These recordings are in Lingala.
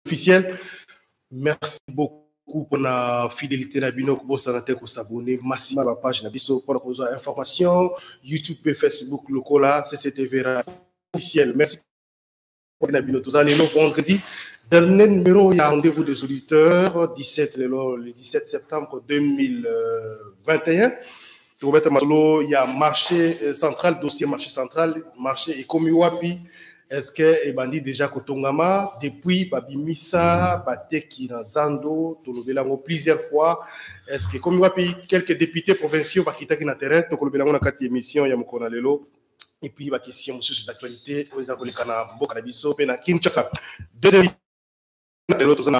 officiel merci beaucoup pour la fidélité na bino kobosana te kosabone masima ba page na biso mpona kozwa information youtube mpe facebook lokola cctv officiel merci na bino toza lelo vendredi dernier numéro ya rendez-vous des auditeurs 17 lelo le 17 septembre 2021 tokobeta masolo ya marché euh, central dossier marché central marché ekomi wapi est ce que ebandi déjà kotongama depuis babimisa bateki na zando tolobela yango plusieurs fois est ce que ekomi wapi quelques députés provinciaux bakitaki na terrain tokolobela yango na kati émission ya mokolo na lelo et puis la question mosusu d'actualité oyo eza koleka na mboka na biso mpe na kinshasa deuxième lelo toza na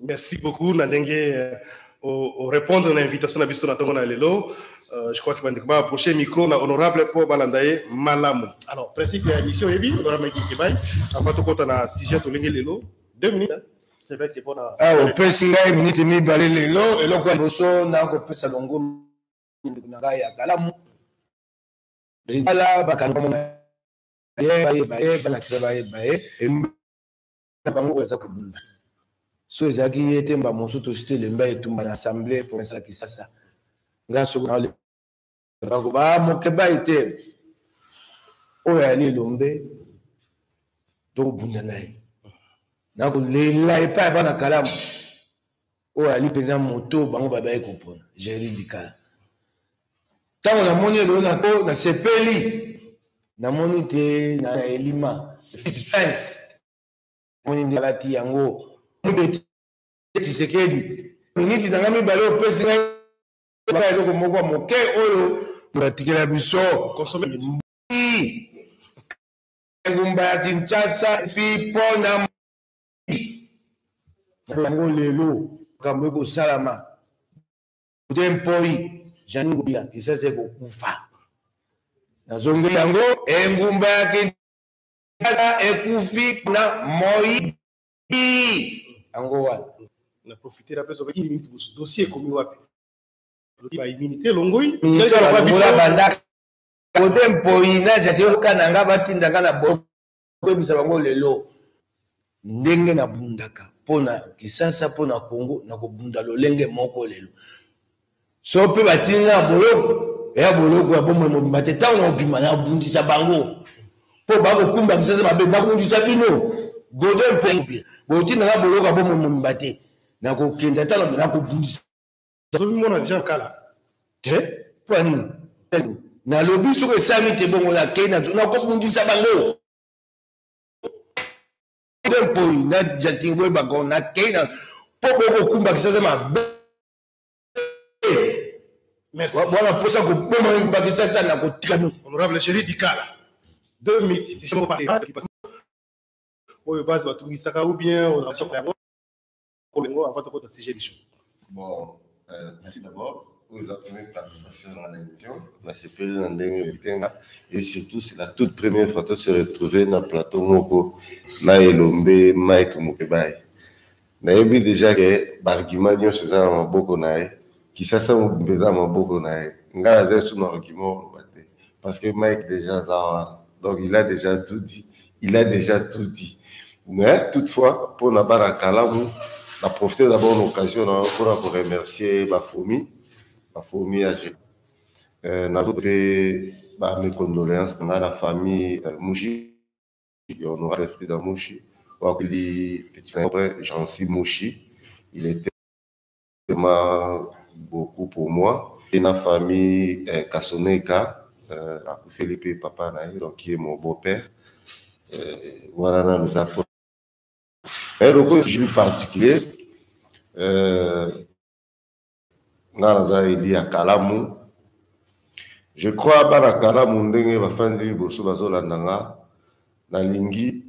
Merci beaucoup na ndenge euh, o répondre na invitation na biso na tongo na lelo. Euh, je crois que bandeko ba approcher micro na honorable po balanda ye malamu. Alors principe ya émission yebi honorable Mike Kebay avant tokota na sujet tolingi lelo 2 minutes. Hein? C'est vrai que bon na Ah opesi ngai minute mibale lelo eloko ya boso na kopesa longo ndeko na ngai ya kalamu. Ala bakanga mona ye baye baye balakisa baye baye na bango oyo aza kobunda so ezalaki ye te mba mosusu tosi tolemba etumba na assemble province ya kisasa ngai soki nakoba ah, mokebai te oyo ayali elombe tokobunda na ye nakolela epai ya bana kalamu oyo ali mpenza moto bango babaki kopona jerry bikala ntango namoni eloo nako nasepeli namoni te na elima fitfens moni nde alati yango mobeti tshisekedi miniti na ngai mibale opesi ngai eloko moko moke oyo batikela biso engumba ya kinshasa fi mpo na yango lelo makambo ekosalama de mpoi janine ngobila kisasa ekokufa nazongeli yango engumba ya kinshasa ekufi na moi yango wana na profitera mpe soki minute mosusu dossier ekomi wapi baimmunité elongoi bandaka kote mpoi na jaki oyoka na nga batinda nga na bo koyebisa bango lelo ndenge nabundaka mpo na kisasa mpo na congo nakobunda lolenge moko lelo so mpe batindi nga ya boloko ya boloko ya bomoi mobimba te ntango nakobima nakobundisa bango mpo bakokumba kisasa mabe nakobundisa bino godo mpe botinda nga boloko ya bomoi mobimba te nakokenda ntano nakobundisa Tozo mona déjà kala. Te, po nini? Nalobi soki esami te bongo na kei na na ko bundisa bango. Tempo na jatingo boye bango na kei na po boko kumba kisaza mabe. Merci. Bwana posa ko boma ngi bakisa sana ko tikano. Honorable Chéri Dikala. Deux minutes, c'est pas oyo base batungisaka ou bien oza Olingo avant tokota sujet du jour. Bon, euh, merci d'abord. Vous avez première participation dans l'émission. La CPL dans le Kenga. Et surtout, c'est la toute première fois que se retrouver dans le plateau Moko, Maëlombe, Mike Mokebay. nayebi déjà ke baargument nyonso eza na maboko na ye Kisasa mobimba eza na maboko na ye. Nga naza lisusu na argument ya koloba te parce que Mike dejà aza wana donc il a dejà tout dit, il a dejà tout dit mais toutefois mpo na bana kalamu na profiter d'abord na occasion na mpo na ko remercier ba fomi ba fomi ya je euh, na mpe ba mes condoléances na la famille euh, Mushi ya honorable Frida Mushi wakili petit frère Jean-Cy Mushi il était vraiment beaucoup pour moi et na famille euh, Kasoneka euh, akufeli mpe papa na ye donc ye mon beau père euh, wana nanu eza po mais lokola jour particulier euh, nga naza eli ya kalamu je crois bana kalamu ndenge bafandi liboso bazolanda nga nalingi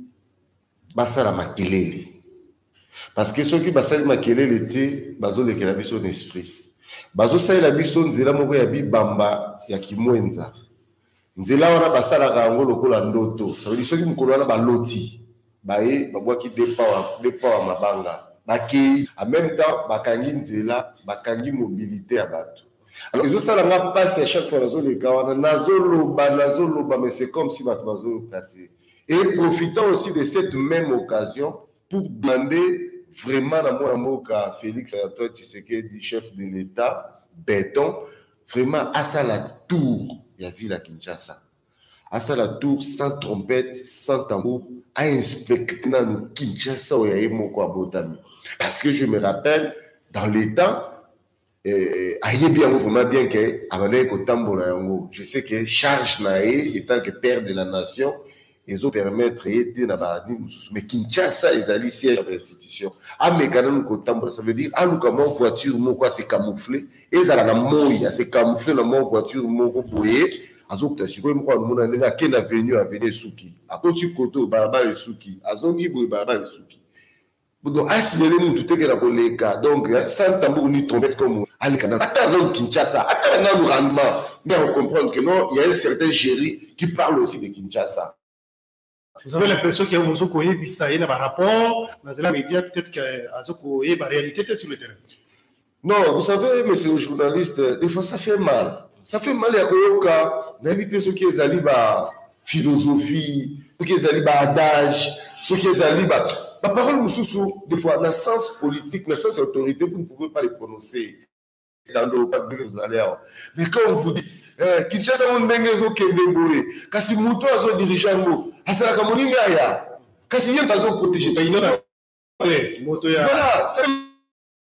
Basala makelele. Parce que soki basali makelele te, bazolekela biso na esprit. Bazosalela biso nzela moko ya bibamba ya kimwenza. Nzela wana basalaka yango lokola ndoto. Ça veut dire soki mokolo wana baloti, baye babwaki deux power, deux power mabanga. Bakei. En même temps, bakangi nzela, bakangi mobilité ya bato. Alors, ezosala nga pasi à chaque fois nazoleka wana, nazoloba, nazoloba, mais c'est comme si bato bazoyoka te. Et profitant aussi de cette même occasion pour demander vraiment na mwana mboka Felix Antoine Tshisekedi, chef de l'Etat, beton, vraiment asala tour ya ville ya Kinshasa. Asala tour sans trompette, sans tambour, a inspecte nanu Kinshasa oyo ya ye moko abotami. Parce que je me rappelle, dans les temps, eh, ayebi yango vraiment bien ke abandaki kotambola yango je sais que charge na ye etant que père de la nation ezopermettre ye te na baadini mosusu mais kinshasa ezali siège ya institution ameka nanu kotambola ça veut dire aluka mwa voiture moko ase camoufle ezala na moi ase camoufle na mwa voiture moko boye azokuta sikoyo moko amona ndenge ake na venu aveni esuki akoti koto balabala esuki azongi boye balabala esuki Budo asimele mutu te kena koleka donc hein, sans tambour ni trompette comme aleka na ata dans Kinshasa ata na nanu rendement mais on comprendre que non il y a un certain Jerry qui parle aussi de Kinshasa vous avez l'impression que ozo koyebisa ye na ba rapport na zela media peut-être que azo koyeba réalité te sur le terrain Non, vous savez, monsieur le journaliste, des fois ça fait mal. Ça fait mal ya koyoka nayebi te soki ezali ba philosophie, soki ezali ba adage, soki ezali ba ba parole mosusu des fois na sens politique, na sens autorité, vous ne pouvez pas les prononcer. Tando pas que vous allez avoir. Mais quand on vous dit eh, Kinshasa mon ndenge ezokende boye, kasi moto azo dirige yango, asalaka moninga aya. Kasi ye mpe azo protéger. Voilà, ça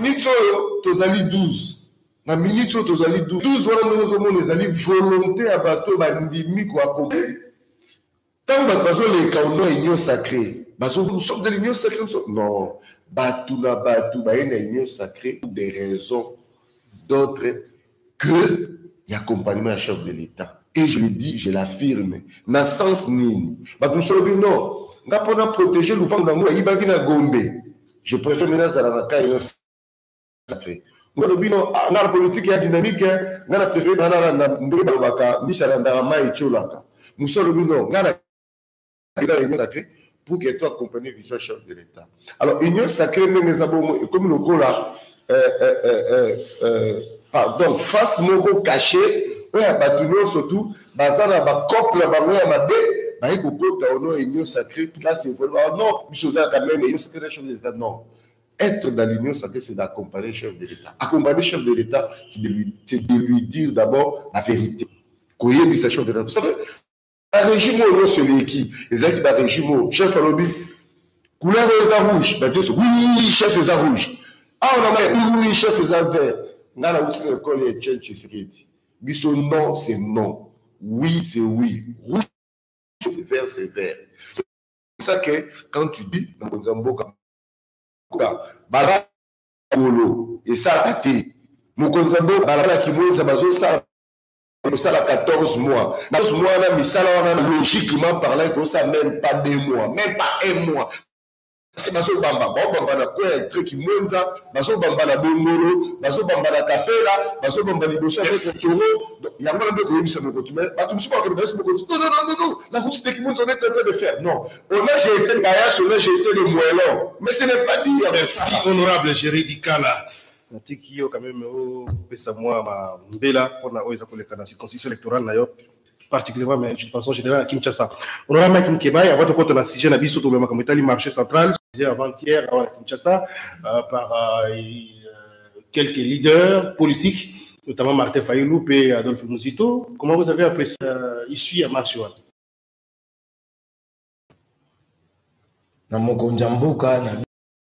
minutes oyo tozali 12 na minutes oyo tozali 12 12 wana ndenge ozomona ezali volonté ya bato oyo bandimi koakompli ntango bato bazoleka ono union sacré nous sommes de l'union sacrée non bato na bato baye na union sacrée pour des raisons d'autres que l'accompagnement à chef de l'État. Et je le dis, je l'affirme. Na sens nini. Bato mosusu balobi non. Nga mpo na protéger lopango na ngo ayibaki na Gombe. Je préfère mena azala na cas ino sacré. Nga lobi non, ah, nga politique ya dynamique, hein. nga na préfère nga na ndenge balobaka mbisa na ndaka mai etiolaka. Mosusu alobi non, nga na eza réunion sacrée pour que to accompagner vision chef de l'État. Alors union sacrée ndenge eza bongo ekomi lokola euh, euh, euh, euh, euh, pardon face moko caché oyo ya bato nyonso tu baza na bacope na bango ya mabe baye kokota ono union sacrée place ekolba oh non biso ozalaka meme union sacrée na chef de l'État non être dans l'union sacrée, c'est d'accompagner le chef de l'État. Accompagner le chef de l'État, c'est de, lui, de lui dire d'abord la vérité. Koyebisa chef de l'État. Vous savez, barégime oyo nyonso eleki ezalaki barégime oyo chef alobi couleur oyo eza rouge bato nyonso wi chef eza rouge awa na mai wi chef eza vert ngai nauti na ekole ya chen chisekedi biso non c'est non oui c'est oui rouge vert c'est vert c'est ça que quand tu dis na mokonzi ya mboka bala kolo esalaka te mokonzi ya mboka balala kimweza bazosala kosala 14 mois na mois wana misala wana logiquement parlant ekosa même pas deux mois même pas un mois kasi bazobamba baobamba na coin ya tre kimwenza bazobamba na bongolo bazobamba na kapela bazobamba liboso ya mekotoro yango wana nde koyebisa mokoto me bato mosusu bakende bayesi mokoto non non non non la route de kimwenza on est en train de faire non on a jeté kayas on a jeté le moellon mais ce n'est pas dire merci honorable jeridi kala Natiki yo quand même opesa mwa ba mbela mpona oyo eza koleka na circonstance électorale na yo particulièrement mais de façon générale à Kinshasa. On aura Mike Mkebaye avant de compter la sujet na biso tolobela makambo etali marché central sujet avant-hier à Kinshasa euh, par euh, euh, quelques leaders politiques notamment Martin Fayulu et Adolphe Muzito. Comment vous avez apprécié euh, ici à marché wana? na mokonzi ya mboka na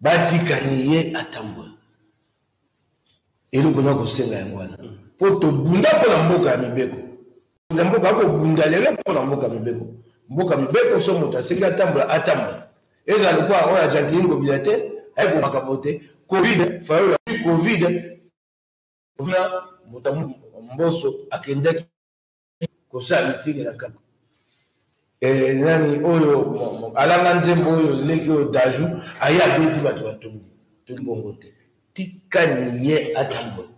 Batika ye atambola. Eloko na kosenga yango wana. Mpo tobunda mpo na mboka ya mibeko. Na mboka akobunda lelo mpo na mboka mibeko. Mboka mibeko so moto asengi atambola, atambola. Ezala lokola oyo ajantini ngobila te, ayeko makambo te. Covid, fayola Covid. Kuna moto mboso akendaki kosala mitenge na kaka eh, nani oyo alanga nzembo oyo leki oyo daju aye abeti bato batongi toki bongo te tika niye atambola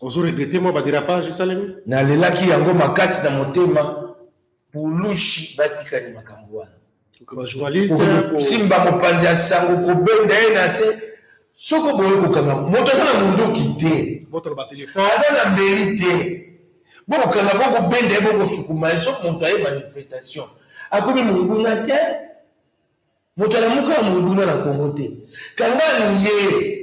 ozoregrete mwa baderapage esalemi nalelaki yango makasi na motema pulushi batikani makambo wana kosimba mopanzi ya sango kobenda ye na se soki oboyi kokanga moto aza na monduki te aza na mbeli te bokokanga bokobenda ye bokosukuma ye soki moto aye manifestation akomi monguna te moto alamuka ya monguna na kongo te kangani ye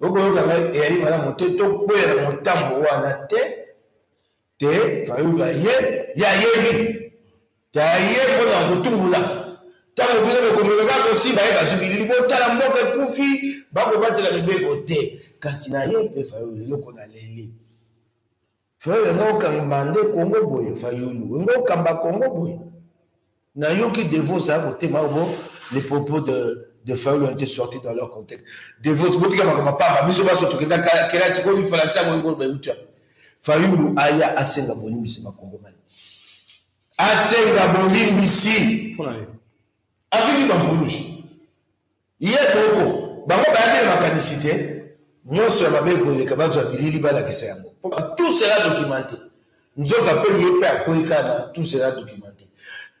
Bokoyoka ngai eyali malamu te tokwea na motambo wana te te fayulu aye ye ayebi te aye mpo na kotumbola ntango bino bokomeka kaka kosimba ye bajibilili botala mboka ekufi bakobatela mibeko te kasi na ye mpe fayulu eloko na leli Frère wenga okamba nde Congo boye fayulu wenga okamba Congo boye na yoki devos a kotema bo les propos de de fayulu ont été sortis dans leur contexte devos botika makambo pamba biso baso tokenda kelasi ko lifalansi yango yango bayuta fayulu aya asenga bolimbisi bakongomani asenga bolimbisi afiki bampulushi Ye moko. Bango bayaki na makanisi te nionso ya mabe ekoleka, bazua bilili balakisa yango po tout sera documente. Nzoka pe ye pe akweyi kaka na tout sera documente.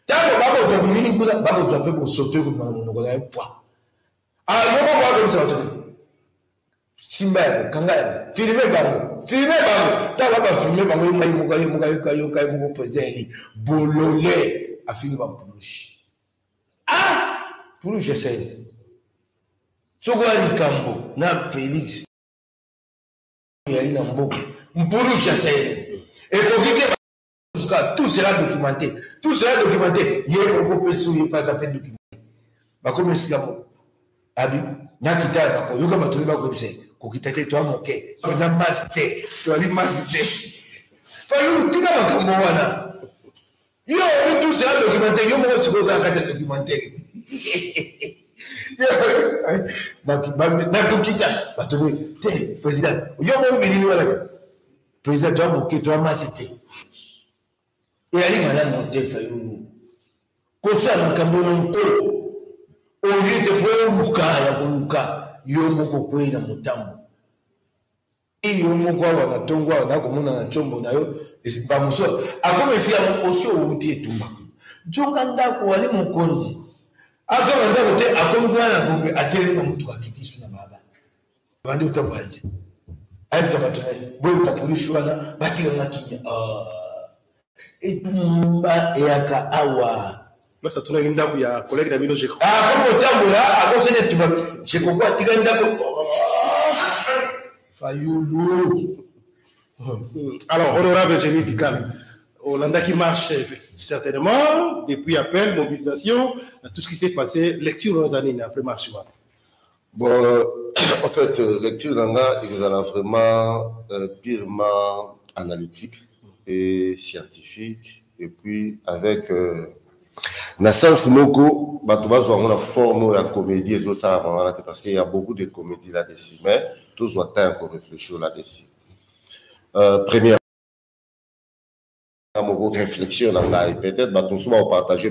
Tango bakozua bilili kuna, bakozua pe bosoto ekobima na monoko na ye pwa. Alors yo bongo okoyebisa batu nini? Simba yango, kanga yango, filmer bango, filmer bango. Tango ba ba filmer bango, ye moko ayoka, yoka, yoka ye moko president eli, bolole, afingi ba mpulushi. Ah! Pulu Gisèle. Soko ya likambo na Felix. Yali na mboka. Mpulu Gisèle. Ekoki te jusqu'à tout sera documenté tout sera documenté ye moko mpe soki mpe aza mpe documenté bakomi esika moko abi nakita ya bako yoka bato oyo bakoyebisa kokita te toa moke aza masi te toali masi te fayulu tika makambo wana Yo oyebi tout cela documentaire yo moko sikoyo oza na kati ya documentaire nakokita bato ne te président yo moko bilili wana président toya moke toya masi te eyali malamu te fayulu kosala makambo na nkolo olie te mpo oluka ya koluka yo moko okwei na motambo Tii yo moko awa na tongo awa na komona na chombo na yo ba mosusu akoma esika yango osi owuti etumba nzoka ndako wali mokonzi azo na ndako te akomi kuna na gombe atelemi na motuka akiti su na baba bandi otambo ya nze ayebisa bato na ye boye kapolisi wana batikanga kimia ah. etumba eyaka awa place atunaki ndako ya kolege na bino jeko akomi kotambola akosani etumba jeko ko atika ndako fayulu hmm. alors honorable génie dikala olandaki marche certainement depuis appel mobilisation tout ce qui s'est passé lecture oza nini après marche wana Bon, en fait, euh, lecture na nga ekozala vraiment euh, purement analytique et scientifique et puis avec euh, na sens moko bato bazwa yango na forme oyo ya comédie ezosalaka wana te parce qu'il y a beaucoup de comédie là dessus mais tozwa temps ya koreflechir là dessus euh, première moko réflexion na ngai peut-être bato mosusu bakopartage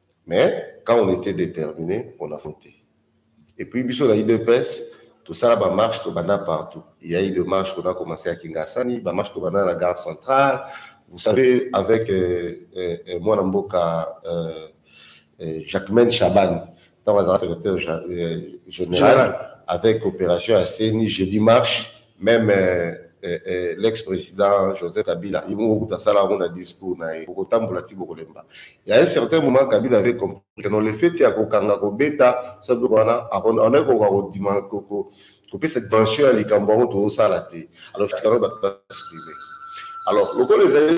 Mais quand on etait determine on affrontait et puis biso na udps tosala ba marche tobanda partout il y a eu de marche qu'on a commencé à Kingasani ba marche tobanda na gare centrale vous savez avec euh, euh, euh, mwana mboka euh, euh, Jacquemaine Chaban ntango azalaka secrétaire ja- euh, général avec opération ya CENI jeudi marche Meme eh, eh, l'ex president Joseph Kabila ye moko kutu asala yango na discours na ye, bokotambola ti bokolemba. Ya un certain moment Kabila avait compris que non le fait ya kokanga kobeta sa biloko wana akonaki kokoka kodima kopesa dimension ya likambo yango tozosala te, alors tika bato ba exprimer. Alors lokola ezali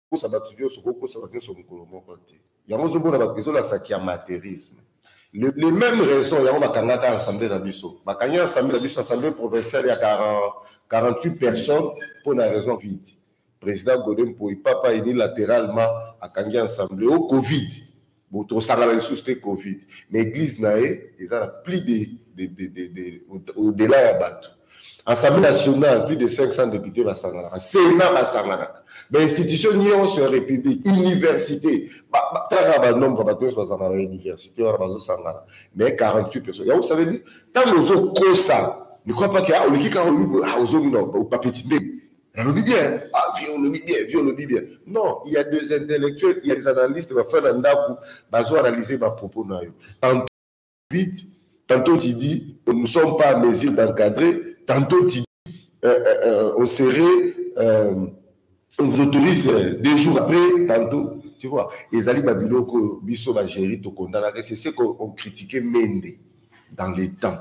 kosa bato nyonso kokosa bato nyonso mokolo moko te yango ozomona ezolakisa kiamaterisme le, le même raison yango bakangaka assemblée na biso bakangi assemblée na biso assemblée provinciale ya 40, 48 personnes mpo na raison vide président gode mpoi papa unilatéralement akangi assemblée o covid Bon tosangana lisusu te covid mais eglise na ye eza na plus de, de, de, de, de au delà ya bato assemblée nationale plus de 500 députés basanganaka sénat basanganaka bainstitution nyonso ya république université taka banombre bato nyonso bazala na université wana bazosangana mais 48 personnes yango ça veut dire ntango ozokosa ne crois pas que ah, oleki 48 ah, ozongi na bapeti ndenge nalobi bien ah vie olobi bien vie olobi bien non il y a des intellectuels il y a des analystes bafai na ndako bazo analyser ba propos na yo tantôt vite tantôt tu dis nous ne sommes pas à mesure d'encadrer tantôt tu dis euh, euh, euh, on serait euh, on vous autorise euh, deux jours après tantôt tu vois ezali ba biloko biso ba gérer tokondanaka c'est ce qu'on critiquait mende dans les temps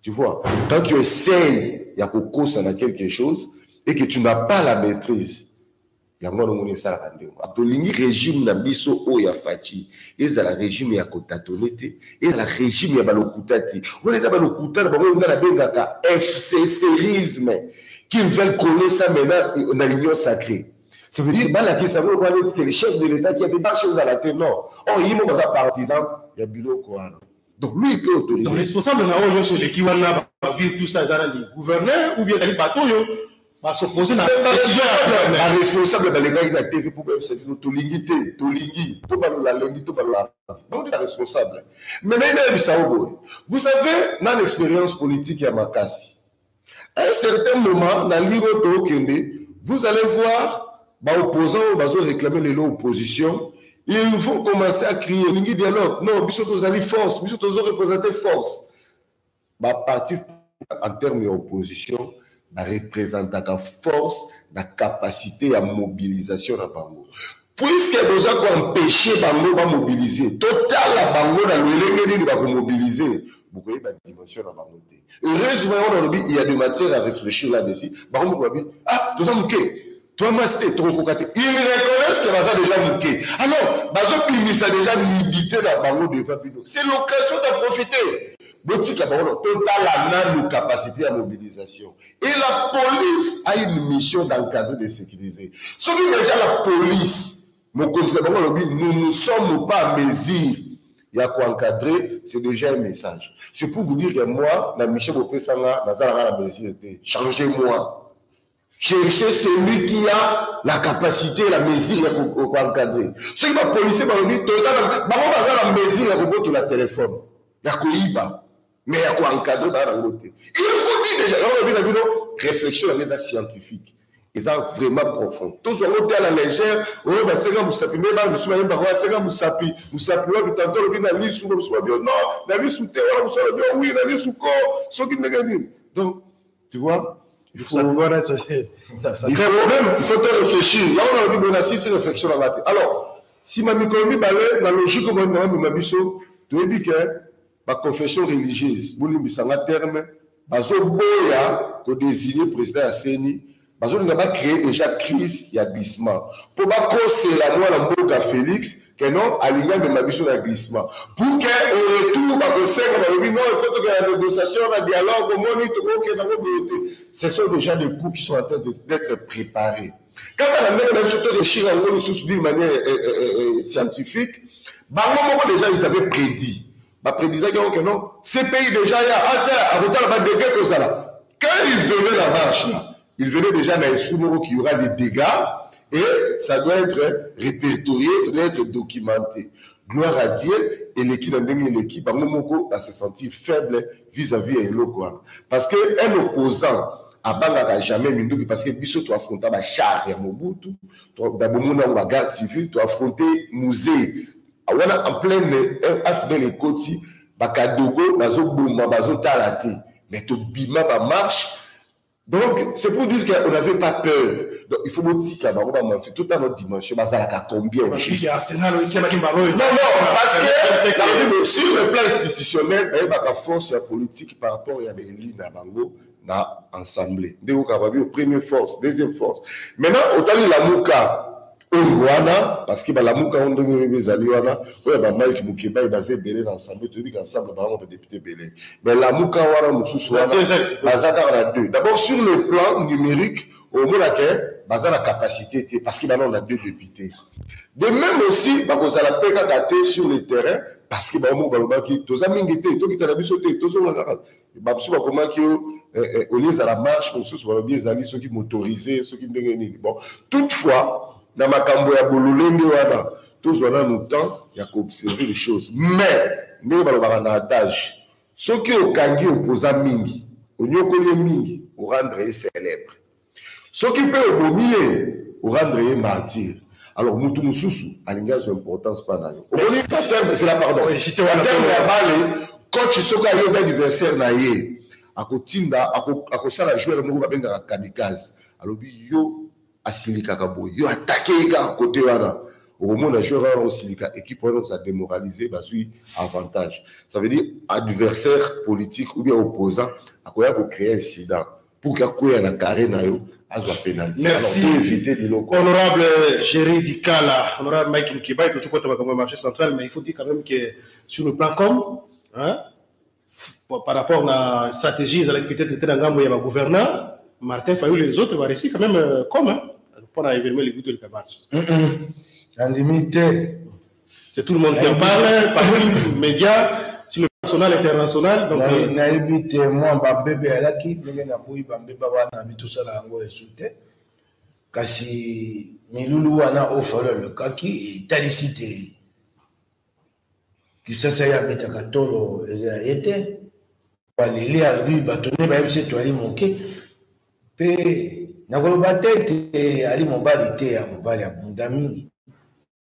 Tu vois, quand tu essayes ya kokosa na quelque chose et que tu n'as pas la maîtrise, yango wana omoni esalaka ndenge wana. Tolingi regime na biso oyo ya Fatshi ezala regime ya kotatone te, ezala regime ya balokuta te. Wana eza balokuta na bango oyo ngai nabengaka FCCisme qu'ils veulent coller ça maintenant na l'union sacrée. Ça veut dire balakisa yango lokola neti c'est le chef de l'État qui a fait marche ezala te non. Or yimo baza partisan ya biloko wana. Donc lui il peut autoriser. Donc responsable na oyo nyonso eleki wana ba ville tout ça eza nani gouverneur ou bien ezali bato oyo ba s'opposer na décision ya gouverneur. Ba responsable balekaki na TV mpo bayebisa bino tolingi te tolingi to balola lundi to balola bango nde ba responsable. Mais nayebi nayebisa yo boye vous savez nani expérience politique ya makasi À un certain moment, na ligue oyo tokende, vous allez voir ba opposants oyo bazo réclamer lelo opposition, ils vont commencer à crier elingi dialogue, non biso tozali force, biso tozo représenter force. Ba parti en termes ya opposition ba représentaka force na capacité ya mobilisation na bango. Puisque boza ko empêcher bango ba mobiliser, totala bango na lolenge nini ba ko mobiliser, bokoyeba dimension na bango te. heureusement yango nalobi il y a de matière à réfléchir là dessus bango moko babi ah toza moke toa masi te tokokoka te il reconnaisse que baza déjà moke alors bazobimisa déjà nibite na bango devant bino c'est l'occasion de profiter botika bango totala nanu capacité ya mobilisation et la police a une mission d'encadrer de sécuriser soki déjà la police Mokonzi na bango alobi nous ne sommes pas en mesure ya ko encadrer, c'est déjà un message. C'est pour vous dire que moi, na mission bopesa nga, naza nanga na mesure te. Changez-moi. Cherchez celui qui a la capacité, la mesure ya ko ko encadrer. Soki ba policiers balobi toza na bango baza na mesure ya kobotola téléphone, ya koyiba. mais ya ko encadrer bana na ngote il faut dire déjà na bino bino réflexion na eza scientifique eza vraiment profond tozwa ngo te à la légère oyo batyaka mosapi nde bana mosusu bayembaka oyo atyaka mosapi mosapi wapi tanto alobi na lisu mosusu babi no na lisu te wana mosusu alobi wi na lisu ko soki ndenge nini donc tu vois il faut voilà ça c'est ça ça il faut même il faut te réfléchir là on a dit bon assis c'est réflexion là alors si ma mikolo mibale na logique oyo na biso toyebi que ba confession religieuse bolimbisa nga terme bazoboya kodesigne president ya seni bazolinga bacree deja crise ya glissement mpo bakosela mwana mboka félix ke non alingi amema biso na glissement pour ke au retour bakosenga balobi non il faut tokenda na négociation na dialogue omoni tokokenda ngo boye te ce sont déjà des coups qui sont en train d'être préparés Kaka na ndenge na biso to rechir yango lisusu d'une manière eh, eh, eh, eh, scientifique, bango moko déjà ils avaient prédit. Ba prédisaki yango que non, ces pays déjà ya ata akotala ba dégâts kozala. Quand ils venaient la marche là, ils venaient déjà na esprit moko qu'il y aura des dégâts et ça doit être répertorié, ça doit être documenté. Gloire à Dieu, eleki na ndenge eleki bango moko ba se sentir faible vis à vis ya eloko wana parce que un opposant abangaka jamais minduki parce que biso to affronta ba char ya mobutu da bomona yango ba garde civile to affronte musée wana en pleine afdel ekoti bakadogo bazoboma bazotala te mais tobima bamarche Donc c'est pour dire qu'on n'avait pas peur. Donc il faut botika bango ba manfi tout à notre dimension bazalaka combien au juste. Non non parce que sur le plan institutionnel bayebaka force ya politique par rapport ya baeli na bango na assemblée. Ndeko Kababi au premier force, deuxième force. Maintenant otali Lamuka oyo wana parce que balamuka yango ndenge oyebi ezali wana oyo ba mike mukebayi baza ebele na ensemble toyebi ka ensemble bango ba député ebele mais lamuka wana mosusu wana baza kaka na deux d'abord sur le plan numérique omona ke baza na capacité te parce que banao na deux député de même aussi bakozala mpe kaka te sur le terrain parce que bango moko balobaki toza mingi te tokita na biso te tozonga kaka bamosusu bakomaki yo eh, eh, olie ezala marche mosusu balobi ezali soki motorise soki ndenge nini bon toutefois na makambo ya bololenge wana tozwa nanu temps ya koobserve les choses mais ndenge balobaka na adage soki okangi opoza mingi onyokoli ye mingi orendre ye célèbre Soki pe obomi ye, o rendre ye martyr. Alors mutu mususu alingi azwa importance epa na yo. Omoni ba termes, zela pardon, ba termes ya bale, coach soki ayobi adversaire na ye, ako tinda, ako sala joueur moko ba bengaka kamikaze, alobi yo asilikaka boye, yo attaquer ye kaka cote wana, oko mona joueur wana ako silika, equipe wana ekozala demoraliser, bazwi avantage. Ça veut dire adversaire politique ou bien opposant akoya ko creer incident pour que akweya na carré na yo azwa penalty merci pour éviter biloko honorable Jerry Dikala honorable Mike Mkibai tozo kota makambo ya marché central mais il faut dire quand même que sur le plan com hein par rapport na stratégie ezalaki peut-être te na ngambo ya ba gouverneur Martin Fayulu et les autres va réussir quand même euh, comme hein, pour na événement les goûts de la marche. Mm -mm. Andimi te C'est tout le monde qui en parle, partout, médias, sur le national, international. Donc, euh, nayebi te mwa bambebe eyalaki ndenge naboyi bambeba wana bi tosala yango esu te kasi milulu wana oyo falo alukaki etalisi te kisasa ye abetaka tolo eza ye te baleli albi bato nde bayebisi etu ali moke mpe nakoloba te ete ali mobali te ya mobali abunda mingi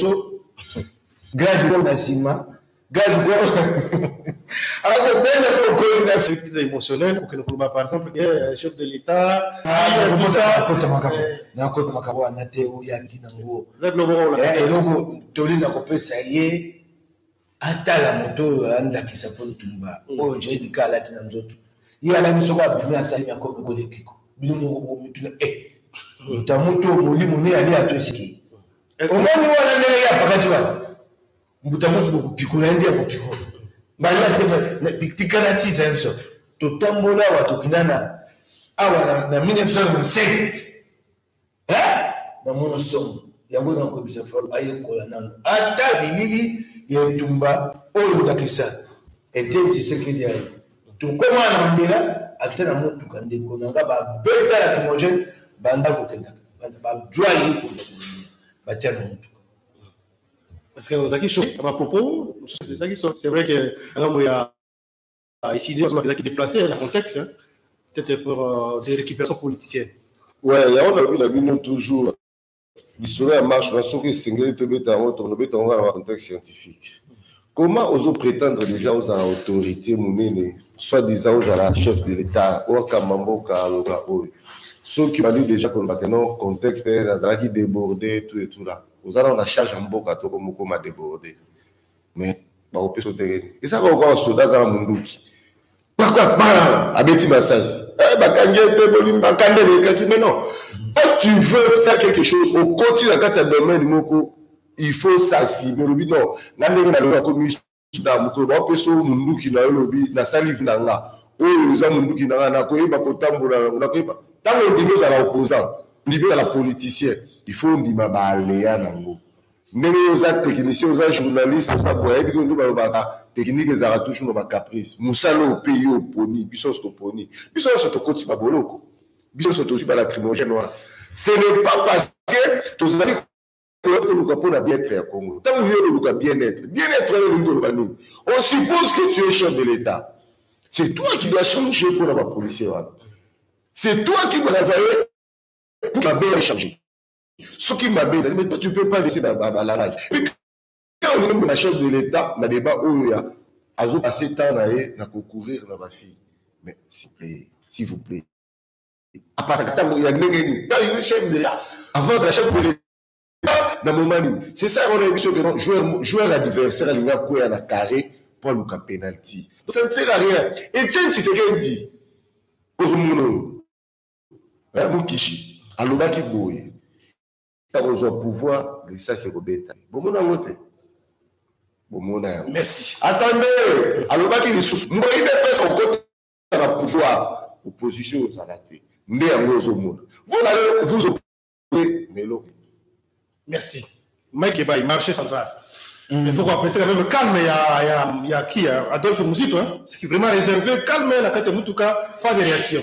so grade ko na nsima grade ko akobenda ko coordination épisode émotionnel okende koloba par exemple que euh, chef de l'état nakota makambo nakota makambo wana te oya ntina ngo eloko toli na kopesa ye atala moto oyo aya ndakisa mpo litumba mm. oyo joye dika alati na nzoto ye alaki soko abimi asali na komi koli ekeko bino moko bomituna e eh, moto ya moto molimo ne ali ato esiki omoni wana ndenge ye apakati wana mbuta moto bokopikola ye nde akopikola bana te tikala sisa biso totambola awa tokindana awa na 1995 eh namona somo yango nakoyebisa falo ayekola nano ata bilili ya etumba oyo ndakisa eteni tshisekedi aye tokoma na mandela akita na motuka ndeko na nga babeta na kimogene banda kokendaka bajwa ye kenda batya na motuka parce que ozalaki choqué na bapropos ozalaki c'est vrai que ngambo ya Ah, ici, il a qui déplacé le contexte, hein, peut-être pour euh, des récupérations politiciennes. Ouais, il y a un la bino toujours. L'histoire ya marche na soki esengeli tobeta yango tokobeta yango na contexte scientifique comment ozo prétendre déjà ozala autorité monene soit disant ozala chef de l'état wakamba mboka aloba oyo soki obandi déjà koloba ke non contexte nazalaki débordé tout et tout là oza nao na charge ya mboka toko mokoma débordé mais bakopesa otelemi eza kaka lokola soda aza na monduki abeti masasi eh, bakangi ete bolimbaka nde elekaki mais non quand tu veux faire quelque chose okoti na kati ya domaine moko il faut sasibe olobi non nga ndenge na lelo akomi suda mokolo baopesa oyo monduki na yo olobi nasali vi na nga oyo eza monduki na nga nakoyeba kotambola nango nakoyeba ntango ondimi ozala opposant ondimi ozala politicien il faut ondima baalea nango Ndenge yo oza technicien oza journaliste oza boye ayebi ke nde balobaka technique ezalaka toujours na ba caprice mosala oyo mpe yo oponi biso nyonso toponi biso nyonso tokoti ba boloko biso nyonso tozwi ba lacrymogène wana ce n'est pas parce que tozali koya koluka mpo na bien-être ya Congo ntango yo oluka bien-être bien-être wana elingi koloba nini on suppose que tu es chef de l'État c'est toi qui dois changer mpo na ba policier wana c'est toi qui travaille pour la bien changer soki mabe ezali mais toi tu peux pas laisser balarage pe ka olingi omema chef de l'état na débat oyo ya azo passe temps na ye na kocourir na bafille mais s'il plaît s'il vous plaît apasaka ntango ya ndenge nini ka olingi chef de l'état avance na chef de l'état na moment nini c'est ça wana biso ke joueur joueur adversaire alingi akwea na carré mpo aluka penalty ça ne sert à rien etienne tshisekedi ozomona oyo Eh, Mukishi alobaki boye akozwa pouvoir lisasi ekobeta bomona yango te bomona yango merci atande alobaki lisusu mboi depesa okota na pouvoir opposition ozala te nde yango ozomona vous allez vous opposer na eloko merci mike ebai marché central Mm. Il faut qu'on apprécie quand même calme, il y a, y a, y a qui Adolphe Mouzito, hein, ce qui est vraiment réservé, calme, la carte Moutouka, pas de réaction.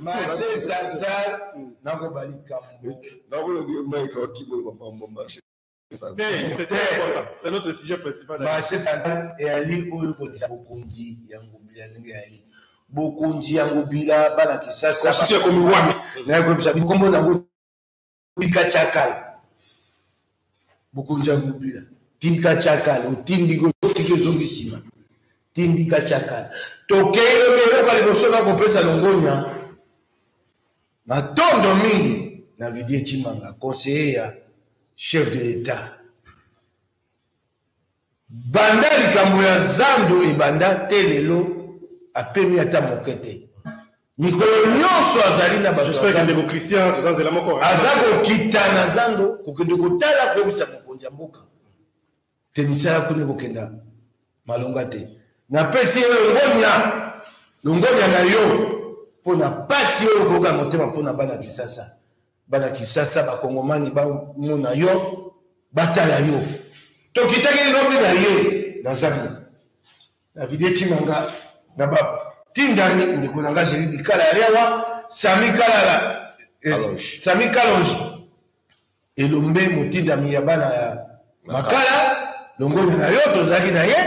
marché central nakoba likambo marché central eyali oyo kolisa bokonzi ya ngobila ndenge eyali bokonzi ya ngobila bana kisasa ekomi wani nayekoyebisa bikombo nango tika chakala bokonzi ya mobila tika chakala otindi otiki ezongi nsima tindika chakala tokei lobi eyoka liboso na kopesa longonya matondo mingi na vidie chimanga conseiller ya chef de l'etat Banda likambo ya zando ebanda tee lelo apemi ata moke te. Mikolo nyonso azali na bato ya zando. Aza kokita na zando kokende kotala koyebisa mokonzi ya mboka te misala kuna ekokenda malonga te. Napesi ye longonya, longonya na yo mpo na mpasi oyo okoyoka na motema mpo na bana Kisasa. bana kisasa bakongomani bamona yo batala yo tokitaki lobi na ye na zando na video etima nga na batindami ndeko na nga jeli likala ya lewa sami kalala eh, sami kalonji elombe motindami ya bana ya makala longonya na yo tozalaki na ye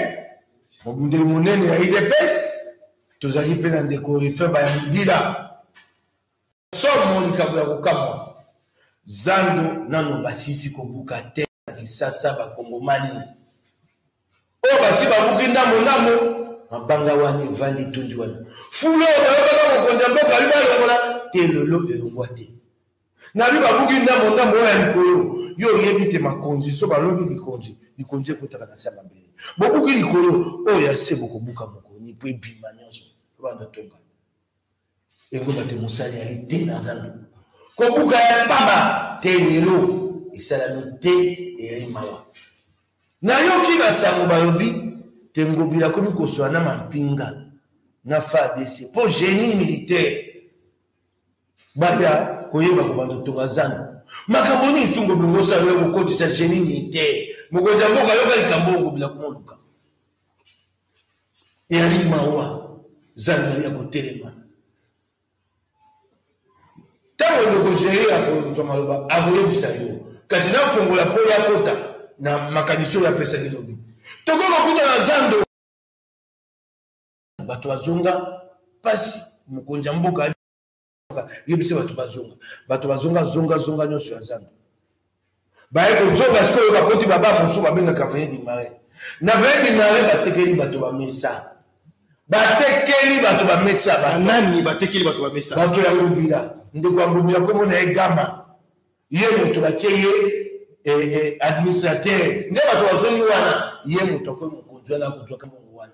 mobundeli monene ya idps tozalaki mpe na ndeko rifin bayamudila Somo likambo ya kokamwa. Zando nano basisi kobuka te na Kisasa bakongomani oyo basi babuki ndambo ndambo mabanga wani evandi tondi wana fulu oyo bayokaka mokonzi ya mboka yo balongola te lelo elongwa te nabi babuki ndambo ndambo oyo ya likolo yo oyebi te makonzi so balongi likonzi likonzi ekotaka na se ya mabele bobuki likolo oyo ya se bokobuka mokoni mpo ebima nyonso banda tonga Ekoba te mosali ali te na zando. Kobuka ya mpaba te lelo esalami te eyali mawa. Nayoki basango balobi te Ngobila akomi koswa na mampinga na FARDC mpo génie militaire baya koyeba kobanda kotonga zando makambo nini nsungo bilongosa yo kokotisa genie militaire mokonzi ya mboka yoka likambo oyo kobila komoluka Eyali mawa zando yali ya kotelema. Ntango ndeko Jair akozwa maloba, akoyebisa yo, kasi nafongola mpo ya kota na makanisi oyo apesaki lobi. Tokoki kokuta na zando bato bazonga mpasi mokonzi ya mboka yebisa bato bazonga bato bazonga zonga zonga nyonso ya zando baye kozonga sikoyo bakoti baba mosusu babengaka veye dimare na veye dimare batekeli bato bamesa batekeli bato bamesa banani batekeli bato bamesa bato ya ngobila ndeko ya ngobila nkombo na ye gama ye moto batye ye eh, eh, administrateur nde bato bazongi wana ye moto akomi mokonzi wana akozwaka mongo wana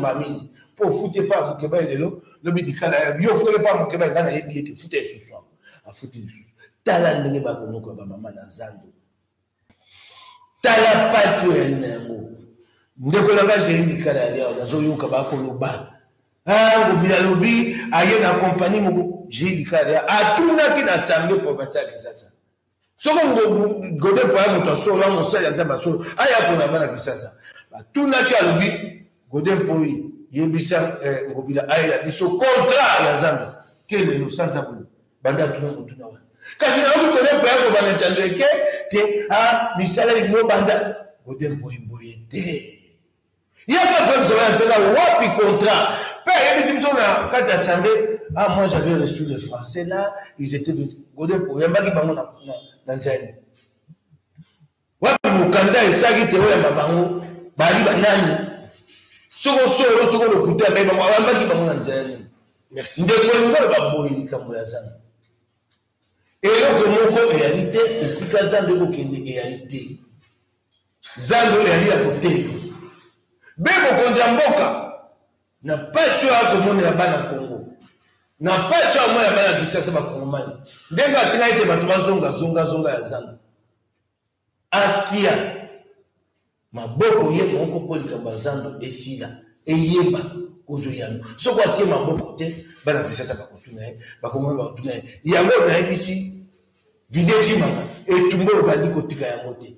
mamini mpo ofuti epai ya mokeba ye lelo lobi likala ya yo ofutaki epai ya mokeba engai nayebi ete futa esusu yango afuti lisusu tala ndenge bakonoko ya bamama na zando tala mpasi oyo yali na yango ndeko na ngai jei likala ya liawa nazoyoka bakoloba ngobi ah, alobi aye na kompani moko jei likala ya atunaki na asamble provincial ya kisasa soko gode mpo aya moto ya solo ya mosali ya nzambe ya solo aya mpona bana kisasa batunaki alobi gode mpoi yebisa eh, ngobila ayela biso kontra ya zando te lelo sanza boye banda atuna motuna wana kasi nayoki gode mpo ya kobanda ntando eke te a ah, misala lingo banda gode mpoimboye te Yaka Bref Zoya Nzela wapi contrat Pe ayebisi biso na kati ya assemblée Ah moi j'avais reçu les français là ils étaient de Godin po yambaki bango na na nzela Wapi mukanda esaki te oyamba bango bali banani Soko solo soko lokuta mais bango ayambaki bango na nzela nini Merci Ndeko Ngolo baboyi likambo ya zana Eloko moko eyali te esika zando ekokende eyali te. Zando eyali ya kotelema. Be mokonzi ya mboka na mpasi oyo akomonela bana Kongo, na mpasi oyo amonela bana Kisasa bakongomani, ndenge asengaki ete bato bazonga zongazonga ya zando. Akia maboko ye moko mpo likambo ya zando esila eyeba kozwa eyano soko atie maboko te bana kisasa bakotuna ye bakongoli bakotuna ye yango nayebisi video cimaka etumba oyo bandi kotika yango te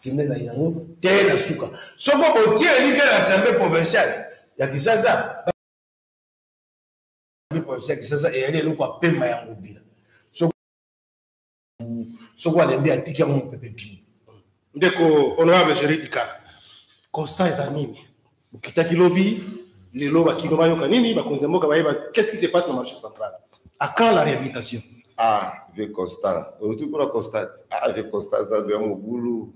kende na yango te na suka soko botie elike na assemblée provinciale ya kisasa provinciale ya kisasa eyali eloko ya pema ya ngobila soko alembi atiki yango mopepe bimi ndeko honorable jeridika constat eza nini bokitaki lobi lelo bakino bayoka nini bakonzi ya mboka bayeba qu'est-ce qui se passe na marché central à quand la réhabilitation ah vieux constant oluti kuna constant ah vieux constant zandu ya mobulu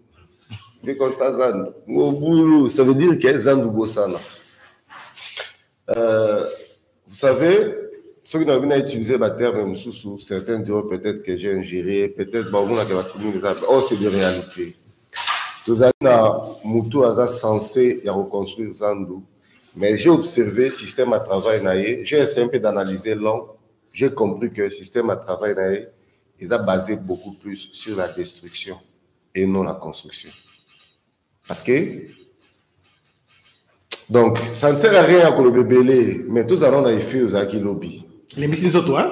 vieux constant zandu mobulu ça veut dire que zandu bosana Euh, vous savez, soki nalobi na utiliser baterme mosusu certains diront peut-être que j'ai ingéré peut-être baomonaka bato mingi eza oh c'est des réalités tozali na motu aza censé ya koconstruire zandu mais j'ai observé système à travail na ye j'ai essayé un peu d'analyser long j'ai compris que système à travail na ye eza basé beaucoup plus sur la destruction et non la construction Parce que donc ça ne sert à rien koloba ebele mais tozala nao na efe ozalaki lobi lembisi nzoto hein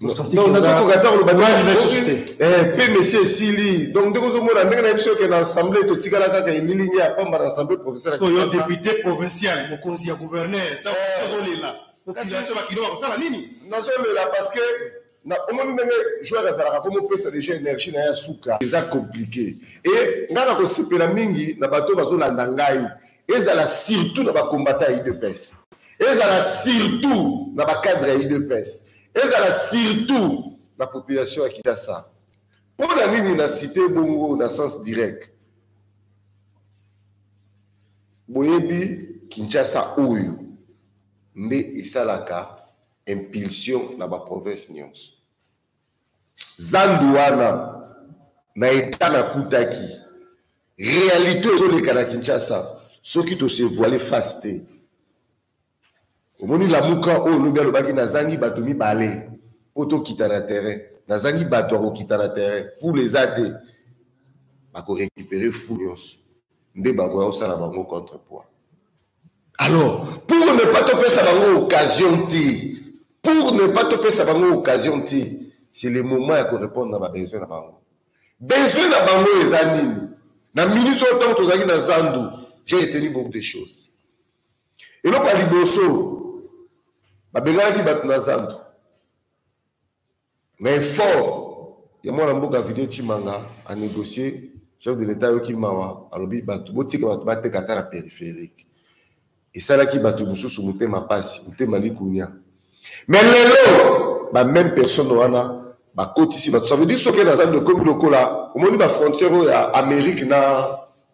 nazokoka ata koloba pe mesi esili donc ndenge ozomona ndenge na biso yoke na assemblée totikala kaka elilingi ya pamba na assemblée professeuryo député provincial mokonzi ya gouverneur ozolela kasi biso bakino bakosala nini nazolela parce que Na omoni ndenge joueur azalaka ko mopesa deja energie na ye ya suka. Eza complique. Et ngai na kosepela mingi na bato bazolanda ngai ezala surtout na ba combattants ya udps. Ezala surtout na ba cadres ya udps. Ezala surtout na population ya Kidasa. Mpo na nini na cite bongo na sens direct? Boyebi Kinshasa oyo nde esalaka impulsion na ba province nionso. Zandu wana na etat nakutaki realite ezoleka na Kinshasa soki to se voiler face te. Omoni lamuka oyo lobi alobaki nazangi bato mibale mpo tokita na terrain, nazangi bato ya kokita na terrain, foule eza te, bako recuperer foule nionso nde bakoya kosala bango contre poids. Alors, pour ne pas te faire bango occasion ti, pour ne pas te faire bango occasion ti, c'est le moment ya ko répondre na ba besoin na bango. Besoin na bango eza nini? Na minute oyo ntango tozalaki na zandu, j'ai retenu beaucoup de choses. Eloko ya liboso, babenganaki bato na zandu. Na effort ya mwana mboka Video Tshimanga a negocier, chef de l'Etat ayoki mawa, alobi batu botika batu bateka ata na peripherique. Esalaki batu mosusu motema pasi, motema likunia. Mais lelo ba meme personne wana bakotisi batu, ça veut dire soki nazando ekomi lokola omoni ba frontières oyo ya Amerique na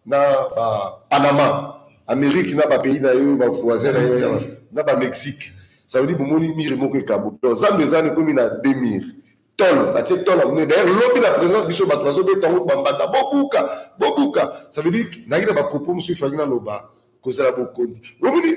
na ba Panama Amerique na ba pays na yo ba voisins na yo na ba Mexique ça veut dire bomoni mire moko ekabuki donc zambe ezana ekomi na deux mire tol batie tol ya monene d'ailleurs lobi na présence biso bato bazobeta yango bambanda bobuka bobuka ça veut dire nayaki na bapropos mosusu efaki naloba kozala bokonzi omoni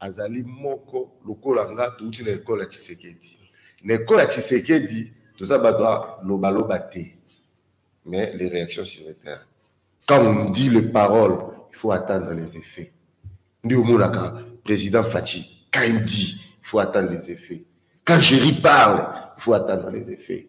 Azali moko lokola nga touti na ecole ya tshisekedi na ecole ya tshisekedi toza bato ya loba loba te mais les réactions sur le terrain quand on dit les paroles il faut attendre les effets nde omonaka président faci quand il dit il faut attendre les effets quand jerry parle il faut attendre les effets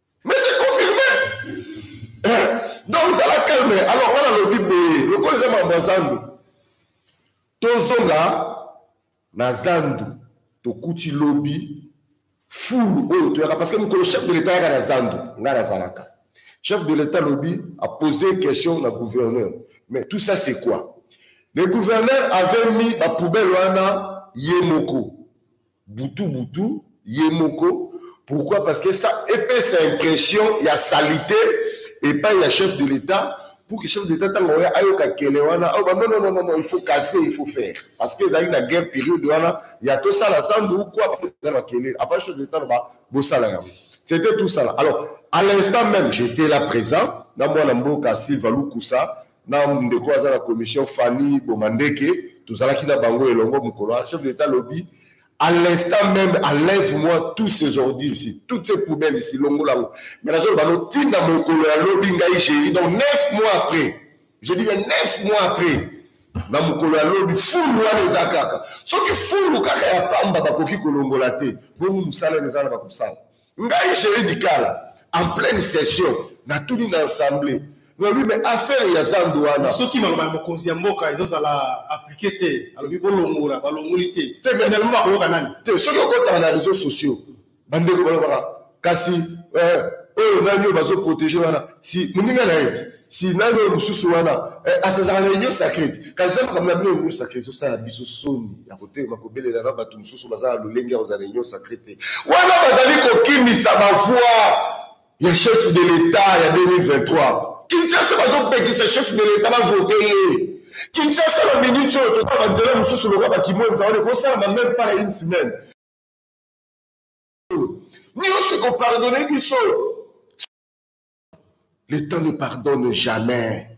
Mais c'est confirmé. Eh, donc zala calme. Alors wana lobi boye, lokola eza mambo ya zandu. Tozonga na zandu tokuti lobi fulu oyo toyaka parce que mokolo chef de l'etat yaka na zandu ngai nazalaka chef de l'etat lobi a posé question na gouverneur mais tout ça c'est quoi le gouverneur avait mis bapoubelle wana ye moko butu butu ye moko pourquoi parce que ça epesa impression ya salite epai ya chef de l'etat pour que chef de l'etat ntango oya ayoka kele wana ayoba non non non non il faut casser il faut faire parce que ezalaki na guerre période wana ya tosala sandu ou quoi parce que eza makele avant chef de l'etat loba bosala yango c'était tout ça là alors à l'instant même j'étais là présent na mwana mboka silva lukusa na ndeko aza na commission Fanny Bomandeke tozalaki na bango elongo mokolo wana chef d'etat alobi à l'instant même enlève-moi tous ces ordures ici toutes ces poubelles ici longola yango mais nazoloba no ntina mokolo ya lobi ngai géri donc neuf mois après je dis bien neuf mois après na mokolo ya lobi fulu wana eza kaka soki fulu kaka ya pamba bakoki kolongola te bongo mosala eza na bakosala Ngai Jerry Dikala en pleine session natuni na ensemble nalobi mais affaire ya zandu wana. Soki maloba ya mokonzi ya mboka ezo zala applique te alobi bolongola balongoli te finalement bakoyoka nani? Te soki okotaka na reseaux sociaux ba ndeko balobaka kasi eh, oyo nani oyo bazo proteger wana si muninga na ye. si nani oyo mosusu wana eh, asazaka na union sacrete kasi eza makambo na bino union sacrete osala biso soni ya kotelema kobelela na bato mosusu baza na lolenge ya kozala na union sacrete wana bazali kokimisa bavoi ya chef de l'etat ya 2023 kinshasa bazopekisa chef de l'etat bavote ye kinshasa na minute oyo toza banzela mosusu lokola bakimwenza wana ekosalama meme pas na une semaine nyonso ekopardone biso le temps ne pardonne jamais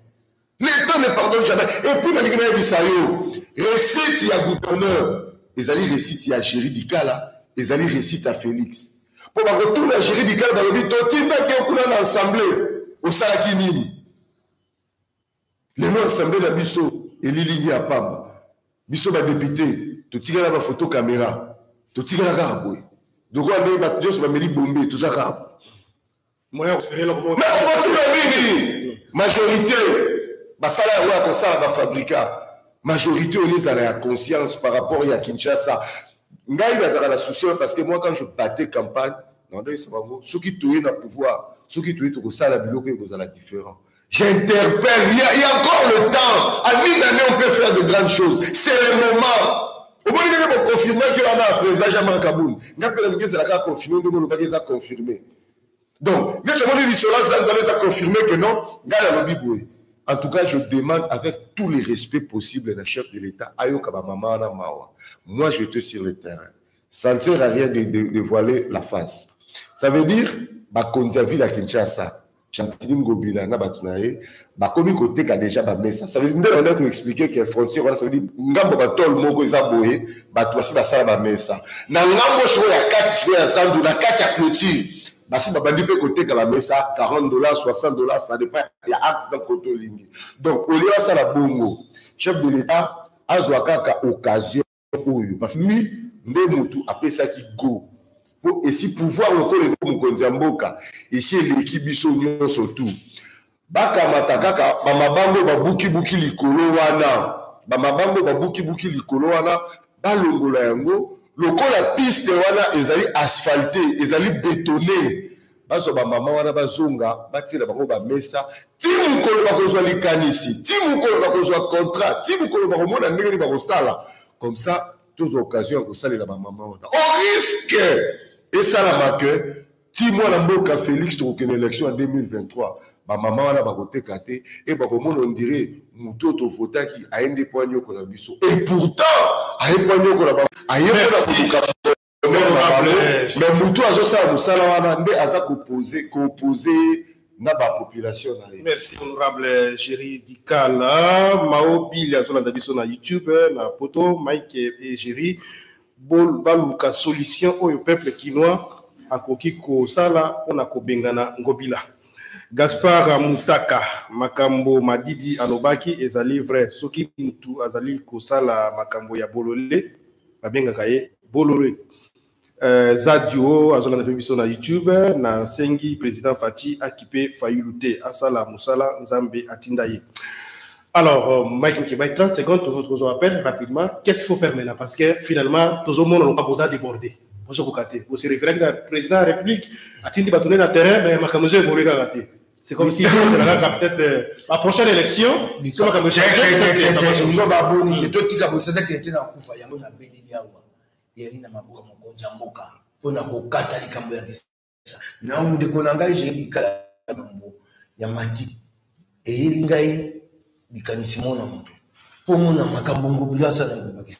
le temps ne pardonne jamais et puis nalingi nayebisa yo recette ya gouverneur ezali recette ya géri dikala ezali recette ya félix mpo bakotuna géri dikala balobi totindaki yo kuna na assemblée osalaki nini Lelo assemblee na biso elilingi ya pamba. Biso ba deputes totikala ba photo camera. Totikala kaka boye. Lokola ndenge bato nyonso bameli bombe toza kaka boye. Mais okotuna nini? Majorite basala yango ya kosala ba fabrica. Majorite olie ezala ya conscience par rapport ya Kinshasa. Ngai nazalaka na souci wana parce que moi quand je battais campagne nalobelaka bango soki toye na pouvoir soki toye tokosala biloko ekozala different. J'interpelle. Il y, a, il y a encore le temps. À une année, on peut faire de grandes choses. C'est le moment. omoni ndenge boconfirmaki wana ya président jean marc kabund nga mpe nalingi ezalaka confirme ndenge olobaki eza confirme donc neti omoni lisolo azangana eza confirme que non ngai nalobi boye en tout cas je demande avec tous les respects possibles na chef de l'état ayoka bamama wana mawa moi je te sur le terrain ça ne sert à rien de, de, de voiler la face ça veut dire bakonzi ya ville ya kinshasa Gentini Ngobila na bato na ye bakomi koteka deja bamesa nde banda koexplike ke frontière wana savedi ngambo batole moko eza boye bato basi basala bamesa na ngambo sikoyo ya kati sikoyo ya zandu na kati ya clôture basi babandi mpe koteka bamesa 40 dollars 60 dollars ça dépend ya acte na koto olingi donc olie basala bongo chef de l'état azwa kaka occasion oyo parce que lui nde mutu apesaki go po esi pouvoir lokola eza mokonzi ya mboka esi eleki biso nyonso tu bakamata kaka bamabango babukibuki likolo wana bamabango babukibuki likolo wana balongola yango lokola piste wana ezali asphalte ezali betone Bazwa bamama wana bazonga batiela bango bamesa ti mokolo bakozwa likanisi ti mokolo bakozwa contrat ti mokolo bakomona ndenge nini bakosala comme ça tozwa occasion ya kosalela bamama wana o oh, risque esalama ke ti mwana mboka félix tokokende élection ya 2023 bamama wana bakoteka te e bakomona ondire motu oyo tovotaki aye nde mpo anyokola biso e pourtant aye mpo anyokola aye mpo na koluka me mutu azosala mosala wana nde aza kopose kopose na bapopulation na ye merci honorable géri dikala mao bili azolanda biso na youtube na poto mike e géri baluka solution oyo peuple kinois akoki kosala mpona kobengana ngobila gaspar mutaka makambo madidi alobaki ezali vrai soki mutu azali kosala makambo ya bolole babengaka ye Bolole. Euh, Zadio azolanda mpe biso na YouTube na sengi président Fatshi akipe Fayulu te asala musala Nzambe atinda ye. Alors euh, Mike Mukebay 30 secondes tozo tozo appel rapidement qu'est-ce qu'il faut faire maintenant parce que finalement tozo mona loka boza débordé bozo kokate bosi référé na président de la République atindi bato na terrain mais makambo ezo évoluer kaka te C'est comme si ezalaka peut-être euh, la prochaine élection so makambo echangezo baboni te totika botisasa kende te na kufa yango na beleli awa eyali na maboko mokonzi ya mboka mpo na kokata likambo ya kisa na ndeko na ngai jeyi likala likambo ya mati eyeli ngai likanisi mo na moto mpo mona makambo ngobila asala ngobakisa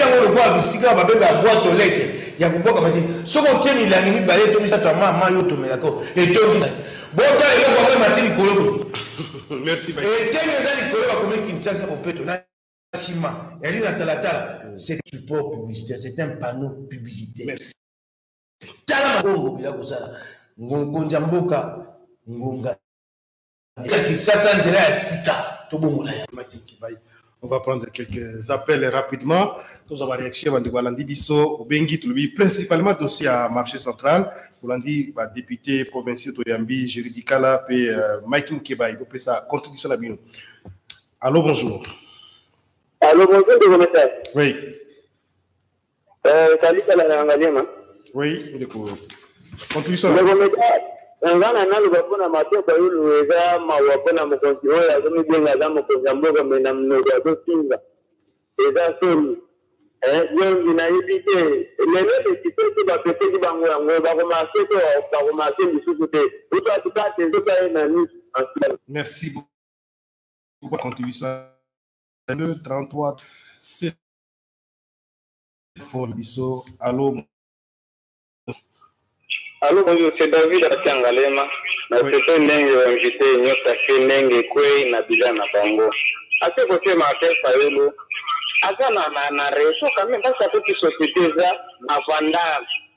yango lokola bisika babenga bwato leke ya kobwaka mati soki otie milangi mibale to misato ya ma ma yo otomelaka etondi bota eloko yango emati likolo eteni eza likolo bakomi kinshasa bopeto na nsima yali na talatala c'est support publicitaire c'est un panneau publicitaire tala mabongo bila kozala mokonzi ya mboka ngonga ya kisasa nzela ya sika tobongola ya On va prendre quelques appels rapidement. Nous avons réaction à Ndoualandi Bisso, Bengi, Tulubi, principalement dossier à marché central. Oulandi, bah, député provincial Toyambi, Juridicala, puis euh, Mike Nkeba, il peut sa contribution à la Allô, bonjour. Allô, bonjour, de Oui. Euh, salut kala na ngaliema. Oui, ndeko. Contribution. Ndeko meka nga na naloba mpo na matoka yulu eza mawa mpo na mokonzi oyo azomibenga aza mokonzi ya mboka me na mnoko azofinga eza soni zongi eh, nayebi te lelo lesite te bapeseki bango yango bakomarse te bakomarse lisusu te utatu kati ezoka ye na nisu merci beaucoup contribution 33 fort biso alo alo bonjour c'est david akangalema na sese ndenge invité nyonso ake ndenge ekwei na bila na bango ase kotema ate fayulu aza na na na reso quand même parce que société eza bavandage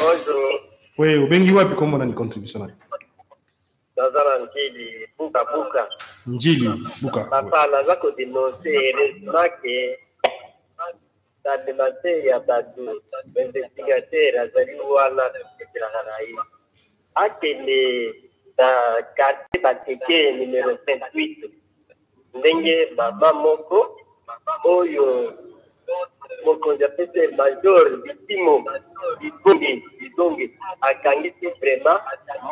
Bonjour. Oui, obengi wapi kombo nani contribution na yo? Naza na Njili buka buka. Njili buka. Papa naza ko denoncer heureusement que tandemase ya bato investigateur azali wana tosekelaka na ye akende na quartier bateke numero 28 ndenge mama moko oyo mokonzi apesi ye major bitimo bidonge bidonge akangisi vrema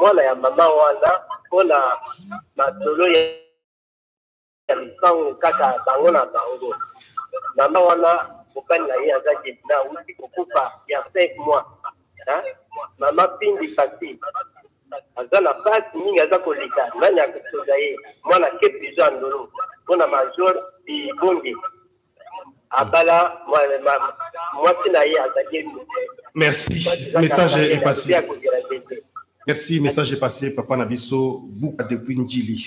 mwana ya mama wana mpo na masolo ya lopango kaka bango na bango mama wana mobali na ye aza debina auti kokufa ya 5 mois mama pindi pasi aza na pasi mingi aza koleka nani akosoda ye mwana ke prison ya ndolo mpo na major ibonge abala mwasi na ye azali merci message epasi merci message epasi papa na biso buka depuis njili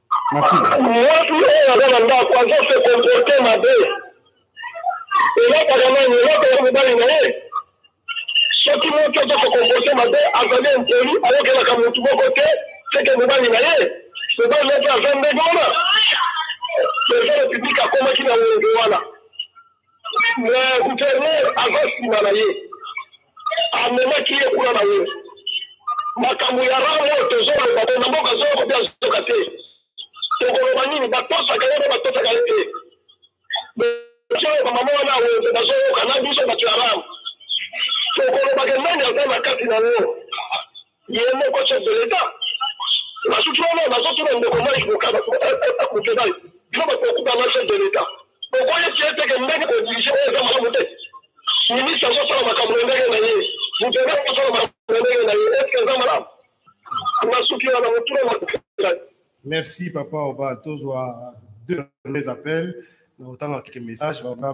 Mwasi oyo aza na ndako azo se comporte mabe, elakaka nani? Elakaka mobali na ye. Soki moto azo se comporte mabe, azali impoli, ayokelaka motu moko te, seke mobali na ye. Mobali na ye mpe aza ndenge wana. President Republique akomaki na wenge wana, mais gouverneur aza nsima na ye. amemaki ye kuna na wenze makambo ya rang oyo tozoloba bo na mboka zoko mpe azoka te tokoloba nini batosaka ye mpe batosaka ye te oyo bamama wana ya wenze bazoyoka na biso bato ya rang tokolobaka nani aza na kati na yango Yemoko chef de l'etat basuki wana bazotuna ndeko mai bokaba akokebali bino bato bakubanga chef de l'etat okoye tie teke ndenge kodirige oyo eza malamu te ministre azosala makambo na ndenge na ye mutene akosala makambo na ndenge na ye eske eza malamu basuki wana motuna makelai merci papa oba tozwa deux mes appels na otanga keke message bana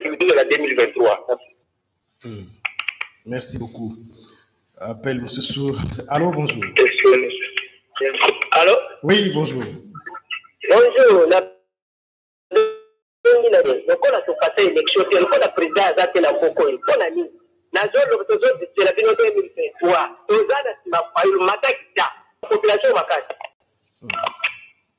Culture ya 2023. Hmm. Merci beaucoup. Appel Moussou. Allô, bonjour. Allô Oui, bonjour. Bonjour. La... lokola topasa élection te lokola président aza te na mboko oyo mpo na nini nazoloba tozodisela bino 2023 toza na nsima fayulu matakita population makasi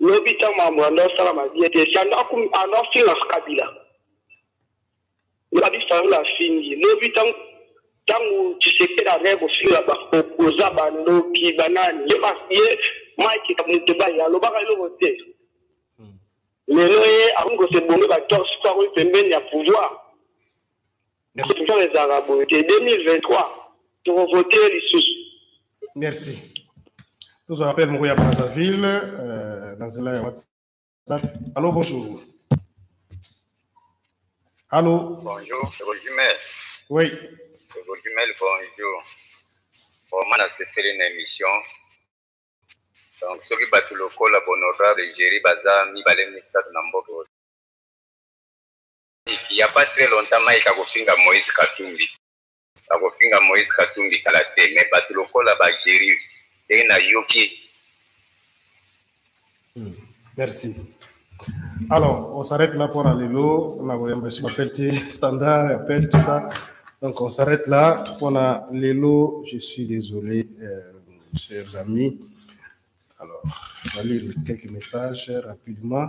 Lobi tango makambo yando asalama bien te, sando ando afinga kabila. Lobi fayulu afingi, lobi tango tango tshisekedi azali kofinga ba opposant bandoki banani ye ye mike moto baye alobaka eloko te hmm. lelo ye akomi kosebonge batorse po akomi pembeni ya pouvoir Deception ezalaka boye te 2023 tokovote lisusu. Merci. tozwa appel moko ya brazzaville euh, na nzela ya whatsapp allo bonjour allo bonjour rosimel oui rosimel bonjour vraiment nasepeli na émission donc soki bato lokola bonorable egérie baza mibale misato na mboka il y a pas très longtemps Mike akofinga Moïse Katumbi akofinga Moïse Katumbi kala te mais bato lokola ba Jerry ndenge nayoki hmm, merci alors on s'arrête là pour lelo na koyamba esu bapel te standard appel tout ça donc on s'arrête là pour na lelo je suis désolé euh, chers amis alors on va lire quelques messages rapidement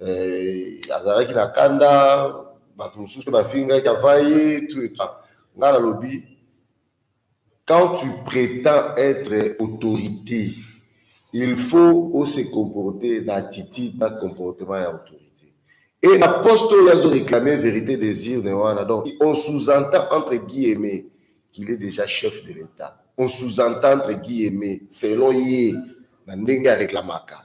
eh, azalaki na kanda bato mosusu mpe bafingaki ava ye ngai nalobi quand tu prétends être autorité il faut ose comporter na attitude na comportement ya autorité et na poste oyo azo réclamer vérité des urnes wana donc on sous-entend entre guillemets qu'il est déjà chef de l'état on sous-entend entre guillemets selon ye na ndenge areklamaka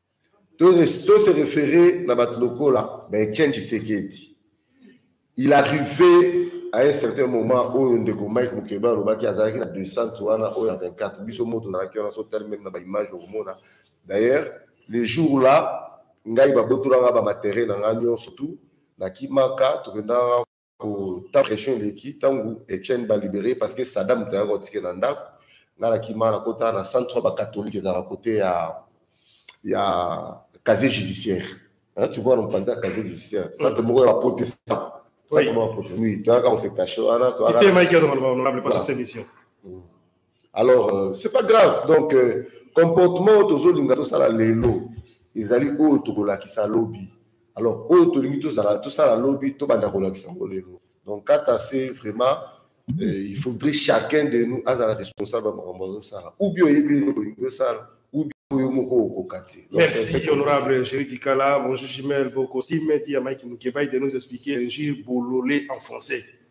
To se referer na bato lokola ba Etienne Tshisekedi. Il arrive à un certain moment oyo ndeko Mike Mukeba alobaki azalaki na descente wana oyo ya 24 biso moto nazalaki wana so tali meme na ba image okomona d'ailleurs le jour là ngai babotolanga ba matériel na ngai nyonso tout na kimaka tokendaka ta pression eleki ntango etienne balibere parce que sada moto ayaka otike na ndako ngai nakima nakota na centre oyo bacatholique ezalaka kote ya ya casier judiciaire tu vois nompanza ya casier judiciaire centre moko ya baprotestant centre moko ya protestant oui toyaka kose cache wana toyaka mike azonga loba honorable paso semission Alors, euh, c'est pas grave. Donc, euh, comportement tozolinga tosala lelo ezali oyo tokolakisa lobi. Alors, oyo tolingi tozala tosala lobi tobanda kolakisa yango lelo. Donc, kata c'est vraiment euh, il faudrait chacun de nous azala responsable ya makambo azosala ou bien oyebi eloko olingi osala ou bien oyo moko okoka te Donc, Merci, c'est- honorable Jerry Kikala. Bonjour, Chimel, vos costumes, dit à Mike Mukebaï de nous expliquer Ngir Bololé en français.